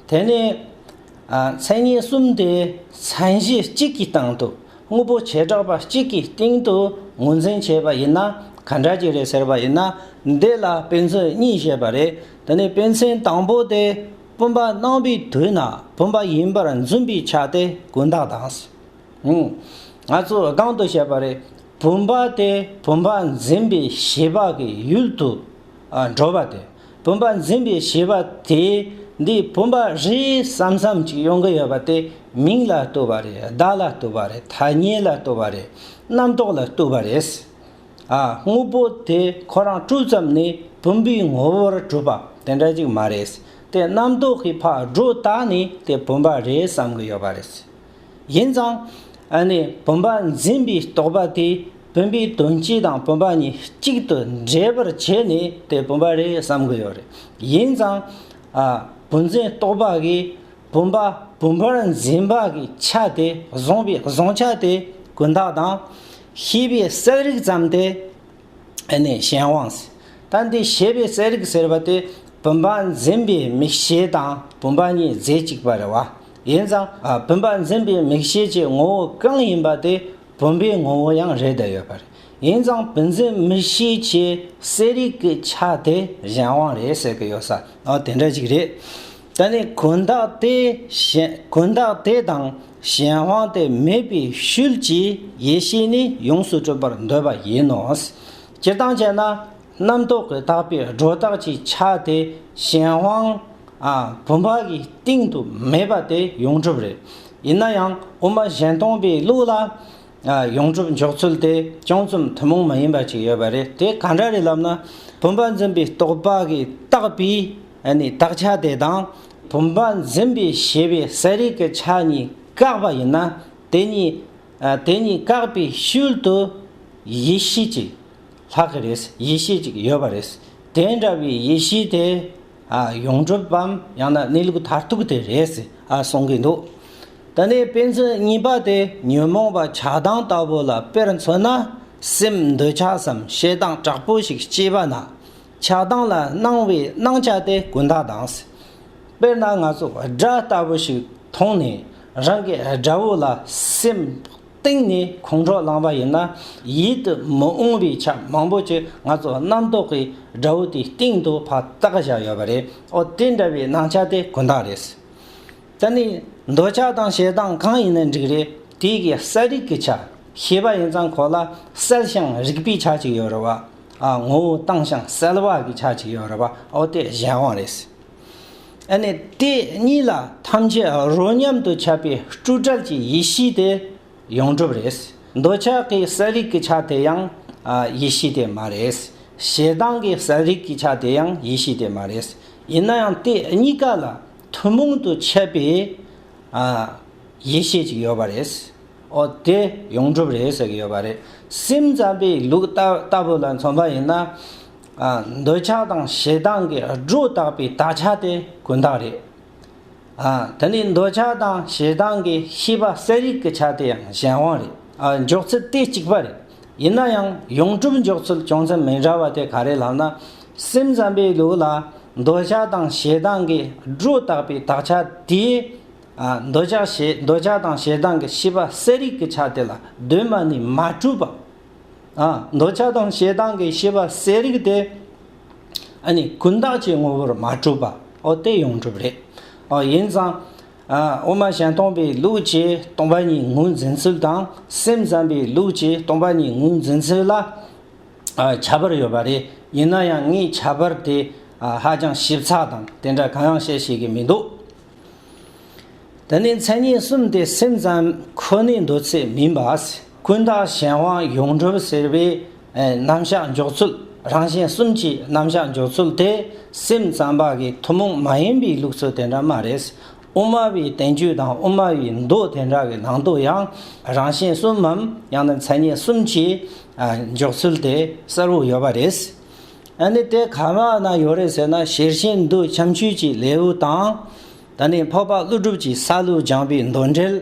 དེ་ནི། མཚན་ཉིད་གསུམ་དེ་མཚན་གཞི་གཅིག་གི་སྟེང་དུ་དངོས་པོ་བྱེ་བྲག་པ་གཅིག་གི་སྟེང་དུ་ངོས་འཛིན་བྱས་པ་ཡིན་ན་ག་འདྲ་གྱི་རེད་ཟེར་བ་ཡིན་ན་འདི་ལ་དཔེ་མཚོན་གཉིས་བཤད་པ་རེད་དེ་ནི་དཔེ་མཚོན་དང་པོ་དེ་བུམ་པ་སྣང་བའི་དུས་ན་བུམ་པ་ཡིན་པར་འཛིན་པའི་ཆ་དེ་ཀུན་བཏགས་དང། ང་ཚོས་སྒང་དུ་བཤད་པ་རེད་བུམ་པ་དེ་བུམ་པ་འཛིན་པའི་ཤེས་པ་གི་ཡུལ་དུ་འགྲོ་བ་དེ་བུམ་པ་འཛིན་པའི་བྱེད་པ་དེས་འདི་བུམ་པ་རེད་བསམ་བསམ་ཅིག་ཡོང་གི་ཡོད་པ་དེ་མིང་ལ་ལྟོས་པ་རེད་བརྡ་ལ་ལྟོས་པ་རེད་ཐ་སྙད་ལ་ལྟོས་པ་རེད་རྣམ་རྟོག་ལ་ལྟོས་པ་རེད། ཨ་དངོས་པོ་དེ་ཁོ་རང་སྤྲུལ་ཙམ་ནས་བུམ་པའི་ངོ་བོར་གྲུབ་པ་དེ་འདྲ་ཅིག་མ་རེད་དེ་རྣམ་རྟོག་གི་ཕག་སྒྲོ་བཏགས་ནས་དེ་བུམ་པ་རེད་བསམ་གི་ཡོད་པ་རེད། ཡིན་ཙང། བུམ་པ་འཛིན་པའི་རྟོག་པ་དེས་བུམ་པའི་དོན་སྤྱི་དང་བུམ་པ་གཉིས་གཅིག་ཏུ་འདྲེས་པར་བྱས་ནས་དེ་བུམ་པ་རེད་བསམ་གྱི་ཡོད་རེད། ཡིན་ཙང། བུམ་འཛིན་རྟོག་པ་གིས་བུམ་པ་བུམ་པར་འཛིན་པ་གྱི་ཆ་དེ་བཟུང་བའི་བཟུང་ཆ་དེ་ཀུན་བརྟགས་དང། ཤེས་པའི་གསལ་རིག་ཙམ་དེ། གཞན་དབང་ཟེར། ད་འདི་ཤེས་པའི་གསལ་རིག་ཟེར་བ་དེ་བུམ་པ་འཛིན་པའི་མིག་ཤེས་དང་བུམ་པ་གཉིས་རྫས་གཅིག་པ་རེད་བ། ཡིན་ཙང་བུམ་པ་འཛིན་པའི་མིག་ཤེས་ཀྱི་ངོ་བོ་གང་ཡིན་པ་དེ་བུམ་པའི་ངོ་བོ་ཡང་རེད་བསྡད་ཡོད་པ་རེད། ཡིན་ཙང་བུ་འཛིན་མིག་ཤེས་ཀྱི་གསལ་རིག་གི་ཆ་དེ་གཞན་དབང་རེད་ཟེར་གི་ཡོད་ས་ཨ་དེ་འདྲ་ཞིག་རེད། ད་ནི་གུན་བརྟགས་དེ་གཞན་གུན་བརྟགས་དེ་དང་གཞན་དབང་དེ་མེད་པའི་ཤུལ་གྱི་ཡེ་ཤེས་ནི་ཡོངས་སུ་གྲུབ་པར་འདོད་པ་ཡིན་ནོ། སྤྱིར་བཏང་བྱས་ན། རྣམ་རྟོག་གི་བརྟགས་པས་སྒྲོ་བཏགས་ཀྱི་ཆ་དེ་གཞན་དབང་བུམ་པ་གི་སྟེང་དུ་མེད་པ་དེ་ཡོངས་གྲུབ་རེད། ཡིན་ན་ཡང་དབུ་མ་གཞན་སྟོང་པའི་ལུགས་ལ་ཡོངས་གྲུབ་འཇོག་ཚུལ་དེ་ཅུང་ཙམ་ཐུན་མོང་མ་ཡིན་པ་ཅིག་ཡོད་པ་རེད་དེ་གང་འདྲ་རེད་ལབ་ན་བུམ་པ་འཛིན་པའི་རྟོག་པ་གི་བརྟགས་པའི་བརྟགས་ཆ་དེ་དང་བུམ་པ་འཛིན་པའི་ཤེས་པའི་ས་རིས་ཀྱི་ཆ་གཉིས་བཀག་པ་ཡིན་ན་དེ་གཉིས་དེ་གཉིས་བཀག་པའི་ཤུལ་དུ་ཡེ་ཤེས་ཀྱི། ལྷག་གི་རེད། ཡེ་ཤེས་གཅིག་ཡོད་པ་རེད། དེ་འདྲ་བའི་ཡེ་ཤེས་དེ། ཡོངས་གྲུབ་བམ་ཡང་ན་གནས་ལུགས་མཐར་ཐུག་དེ་རེད། གསུང་གི་འདུག། ད་ནི་དཔེ་མཚོན་གཉིས་པ་དེ་ཉོན་མོངས་པ་ཆགས་སྡང་ལྟ་བུ་ལ་དཔེར་མཚོན་ན། སེམས་འདོད་ཆགས་སམ་ཞེ་སྡང་དྲག་པོ་ཞིག་སྐྱེས་པ་ན། ཆགས་སྡང་ལ་སྣང་བའི་སྣང་ཆ་དེ་ཀུན་དག་སྡང། དཔེར་ན་ང་ཚོ་དགྲ་ལྟ་བུ་ཞིག་མཐོང་ནས་རང་གི་དགྲ་བོ་ལ་སེམས། སྟེང་ནས་ཁོང་ཁྲོ་ལངས་པ་ཡིན་ན་ཡིད་དུ་མི་འོང་བའི་ཆ་མང་པོ་ཅིག་ང་ཚོ་རྣམ་རྟོག་གི་དགྲ་བོ་དེའི་སྟེང་དུ་ཕ་བཏགས་བཞག་ཡོད་པ་རེད་ཨོ་དེ་འདྲ་བའི་སྣང་ཆ་དེ་གུ་མདངས་རེད། ད་ནི་འདོད་ཆགས་དང་ཞེ་སྡང་གང་ཡིན་ན་འགྲིག་རེད་དེ་གའི་གསལ་རིག་གི་ཆ་ཤེས་པ་ཡིན་ཙང་གོ་ལ་གསལ་ཞིང་རིག་པའི་ཆ་གཅིག་ཡོད་རེད་བ། ངོ་བོ་དྭངས་ཞིང་གསལ་བ་གི་ཆ་གཅིག་ཡོད་རེད་བ་ཨོ་དེ་གཞན་དབང་རེད། ཨ་ནི་དེ་གཉིས་ལ་ཐམས་ཅད་རོ་མཉམ་དུ་ཁྱབ་པའི་སྐྲུ་དྲག་གི་ཡེ་ཤེས་དེ་ཡོངས་གྲུབ་རེད། འདོད་ཆགས་ཀྱི་ས་རིགས་ཀྱི་ཆ་དེ་ཡང་ཡེ་ཤེས་དེ་མ་རེད། ཞེ་སྡང་གི་ས་རིགས་ཀྱི་ཆ་དེ་ཡང་ཡེ་ཤེས་དེ་མ་རེད། ཡིན་ན་ཡང་དེ་གཉིས་ཀ་ལ་ཐུན་མོང་དུ་ཁྱབ་པའི་ཡེ་ཤེས་ཅིག་ཡོད་པ་རེད། འོ་དེ་ཡོངས་གྲུབ་རེད་ཟེར་གྱི་ཡོད་པ་རེད། སེམས་ཙམ་པའི་ལུགས་ལྟ་བུ་ལ་མཚོན་པ་ཡིན་ན། འདོད་ཆགས་དང་ཞེ་སྡང་གི་སྒྲོ་བཏགས་པའི་དག་ཆ་དེ་ཀུན་བཏགས་རེད། དེ་ནས་འདོད་ཆགས་དང་ཞེ་སྡང་གི་ཤེས་པ་གསལ་རིག་གི་ཆ་དེ་ཡང་གཞན་དབང་རེད། འཇོག་ཚུལ་དེ་གཅིག་པ་རེད། ཡིན་ན་ཡང་ཡོངས་གྲུབ་འཇོག་ཚུལ་ཅུང་ཙམ་མི་འདྲ་བ་དེ་ག་རེ་ལབ་ན། སེམས་ཙམ་པའི་ལུགས་ལ་འདོད་ཆགས་དང་ཞེ་སྡང་གི་སྒྲོ་བཏགས་པའི་དག་ཆ་དེའི། འདོད་ཆགས་དང་ཞེ་སྡང་གི་ཤེས་པ་གསལ་རིག་གི་ཆ་དེ་ལ་གདོད་མ་ནས་མ་གྲུབ་པ། འདོད་ཆགས་དང་ཞེ་སྡང་གི་ཤེས་པ་གསལ་རིག་དེ། ཀུན་བརྟགས་ཀྱི་ངོ་བོར་མ་གྲུབ་པ་འོ་དེ་ཡོངས་གྲུབ་རེད། ཡིན་ཙང། དབུ་མ་ཞལ་སྟོང་པའི་ལུགས་ཀྱིས་སྟོང་པ་ཉིད་ངོས་འཛིན་ཚུལ་དང་སེམས་ཙམ་པའི་ལུགས་ཀྱིས་སྟོང་པ་ཉིད་ངོས་འཛིན་ཚུལ་ལ་ཁྱད་པར་ཡོད་པ་རེད། ཡིན་ན་ཡང་ངས་ཁྱད་པར་དེ་ཧ་ཅང་ཞིབ་ཚགས་དང་དེ་འདྲ་གང་ཡང་བཤད་ཤེས་ཀྱི་མི་འདུག། དེ་ནི་མཚན་ཉིད་གསུམ་སྟེ་སེམས་ཙམ་ཁོ་ནའི་འདོད་ཚུལ་མིན་པ། ཀུན་བརྟགས་གཞན་དབང་ཡོངས་གྲུབ་ཟེར་བའི་རྣམ་གཞག་འཇོག་ཚུལ་རང་གཞན་གསུམ་གྱི་རྣམ་གཞག་འཇོག་ཚུལ་དེ་སེམས་ཙམ་པ་གི་ཐུན་མོང་མ་ཡིན་པའི་ལུགས་སྲོལ་དེ་འདྲ་མ་རེད། དབུ་མ་པའི་བསྟན་བཅོས་དང་དབུ་མ་པའི་མདོ་དེ་འདྲ་གི་ནང་དུ་ཡང་རང་གཞན་གསུམ་མམ་ཡང་ན་མཚན་ཉིད་གསུམ་གྱི་འཇོག་ཚུལ་དེ་གསལ་བོ་ཡོད་པ་རེད། ཨ་ནི་དེ་ག་ང་ན་ཡོད་རེད་ཟེར་ན་ཞེར་བཞིན་འདུག་ཁྱམས་ཆུས་ཀྱི་ལེའུ་དང། ད་ནི་འཕགས་པ་ཀླུ་སྒྲུབ་ཀྱི་ས་ལུ་སྦྱངས་པའི་མདོ་འགྲེལ།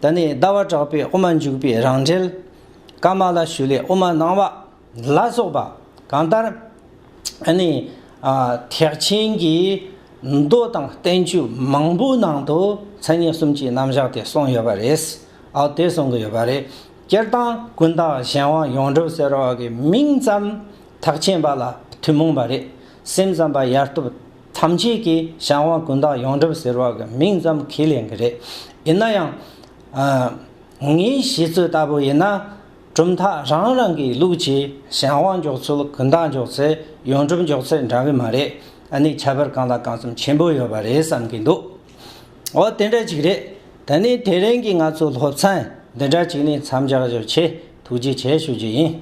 ད་ནི་ཟླ་བ་གྲགས་པའི་དབུ་མ་འཇུག་པའི་རང་འགྲེལ། ཀརྨ་བླ་ཞུ་ལས་དབུ་མ་སྣང་བ། ལ་སོགས་པ་གང་ལྟར། ཨ་ནི། ཐེག་ཆེན་གྱི་མདོ་དང་བསྟན་བཅོས་མང་པོའི་ནང་དུ་མཚན་ཉིད་གསུམ་གྱི་རྣམ་གཞག་དེ་གསུངས་ཡོད་པ་རེད། ཨའོ་དེ་གསུང་གི་ཡོད་པ་རེད། སྤྱིར་བཏང་ཀུན་བཏགས་གཞན་དབང་ཡོངས་གྲུབ་ཟེར་བ་གི་མིང་ཙམ་དག་ཆེན་པ་ལ་ཐུན་མོང་པ་རེད། སེམས་ཙམ་པ་ཡར་ཐུབ་ཐམས་ཅད་ཀྱིས་གཞན་དབང་ཀུན་བཏགས་ཡོངས་གྲུབ་ཟེར་བ་གི་མིང་ཙམ་ཁས་ལེན་གྱི་རེད། ཡིན་ན་ཡང། ངའི་བཞེད་ཚུལ་ལྟ་བུ་ཡིན་ན། གྲུབ་མཐའ་རང་རང་གི་ལུགས་ཀྱིས་གཞན་དབང་འཇོག་ཚུལ་ཀུན་བཏགས་འཇོག་ཚེ་ཡོངས་གྲུབ་འཇོག་ཚུལ་འདྲ་གི་མ་རེད། ཨ་ནི་ཁྱད་པར་གང་དང་གང་ཙམ་ཆེན་པོ་ཡོད་པ་རེད་བསམ་གྱི་འདུག། ཨོ་དེ་འདྲ་ཅིག་རེད། ད་ནི་དེ་རིང་གི་ང་ཚོའི་སློབ་ཚན་འདི་འདྲ་ཅིག་ནི་མཚམས་འཇགས་རྒྱུར་ཆེས་ཐུགས་རྗེ་ཆེ་ཞུ་རྒྱུ་ཡིན།